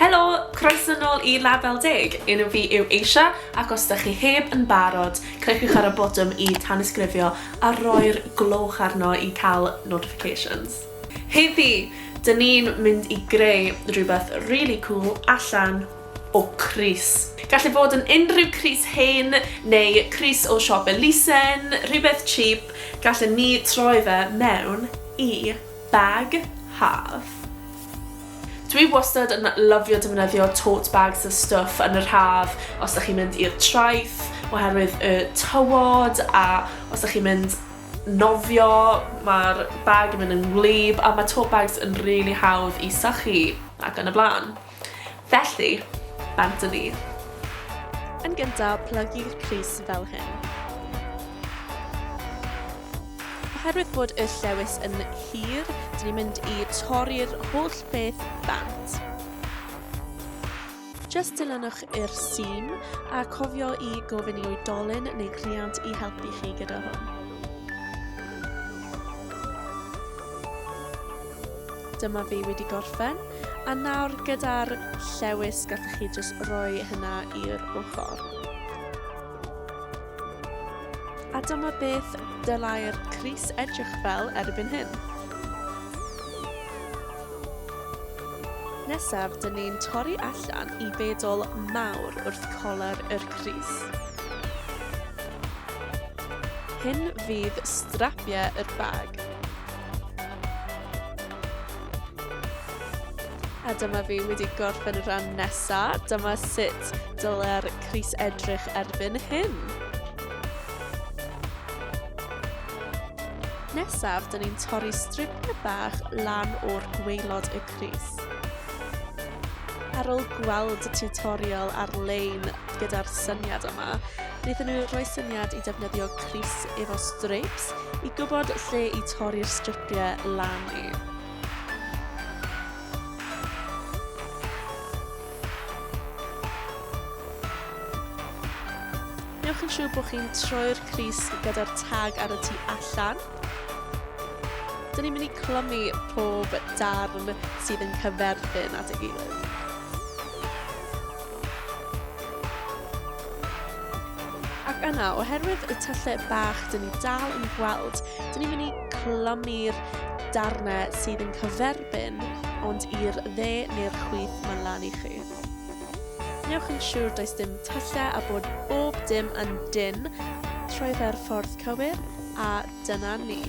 Helo! Croeso nôl i Label Deg! Enw fi yw Eisha ac os dych chi heb yn barod, cliciwch ar y botwm i tanysgrifio a rhoi'r gloch arno i cael notifications. Heddi, dyn ni'n mynd i greu rhywbeth rili cŵl allan o crys. Gall e fod yn unrhyw crys hen neu crys o siop elusen, rhywbeth cheap, gallen ni troi fe mewn i bag haf. Dwi wastad yn lyfio defnyddio tote bags a stwff yn yr haf os da chi'n mynd i'r traeth oherwydd y tywod a os da chi'n mynd nofio mae'r bag yn mynd yn wlyb a mae tote bags yn rili really hawdd i sychu ac yn y blaen. Felly, bant yn un. Yn gyntaf, plygu'r pris fel hyn. Oherwydd bod y llewys yn hir, dyn ni'n mynd i torri'r holl beth bant. Just dilynwch i'r sîm a cofio i gofyn i oedolyn neu rhiant i helpu chi gyda hwn. Dyma fi wedi gorffen, a nawr gyda'r llewys gallwch chi jyst roi hynna i'r ochr. A dyma beth dylai'r Cris edrych fel erbyn hyn. Nesaf, dyn ni'n torri allan i bedol mawr wrth colar yr Cris. Hyn fydd strapiau yr bag. A dyma fi wedi gorffen y rhan nesaf. Dyma sut dylai'r crys edrych erbyn hyn. Nesaf, dyn ni'n torri stripnau bach lan o'r gweilod y crys. Ar ôl gweld y tutorial ar-lein gyda'r syniad yma, wnaethon nhw rhoi syniad i defnyddio crys efo streips i gwybod lle i torri'r stripiau lan i. Newch yn siŵr bod chi'n troi'r crys gyda'r tag ar y tu allan. Dyn ni'n mynd i clymu pob darn sydd yn cyferbyn at ei gilydd. Ac yna, oherwydd y tyllau bach dyn ni dal yn gweld, dyn ni'n mynd i clymu'r darnau sydd yn cyferbyn, ond i'r dde neu'r chwith mae'n lan i chi. Newch yn siŵr does dim tyllau a bod bob dim yn dyn trwy fe'r ffordd cywir, a dyna ni.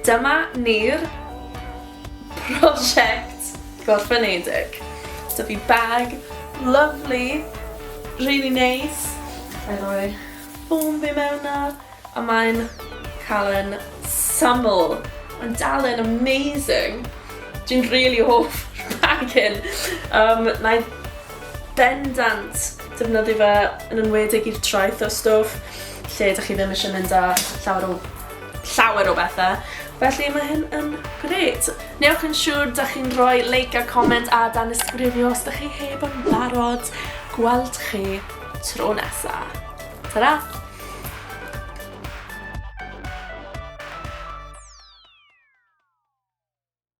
Dyma ni'r prosiect gorffenedig. So fi bag, lovely, really nice. I roi ffôn fi mewn na, a mae'n cael yn syml. Mae'n dal yn amazing. Dwi'n really hoff bag hyn. Um, na i bendant defnyddio fe yn enwedig i'r traeth o stwff. lle dych chi ddim eisiau mynd â llawer o llawer o bethe. Felly mae hyn yn grêt. Newch yn siŵr da chi'n rhoi like a comment a dan ysgrifio os da chi heb yn barod. Gweld chi tro nesa. Ta-ra!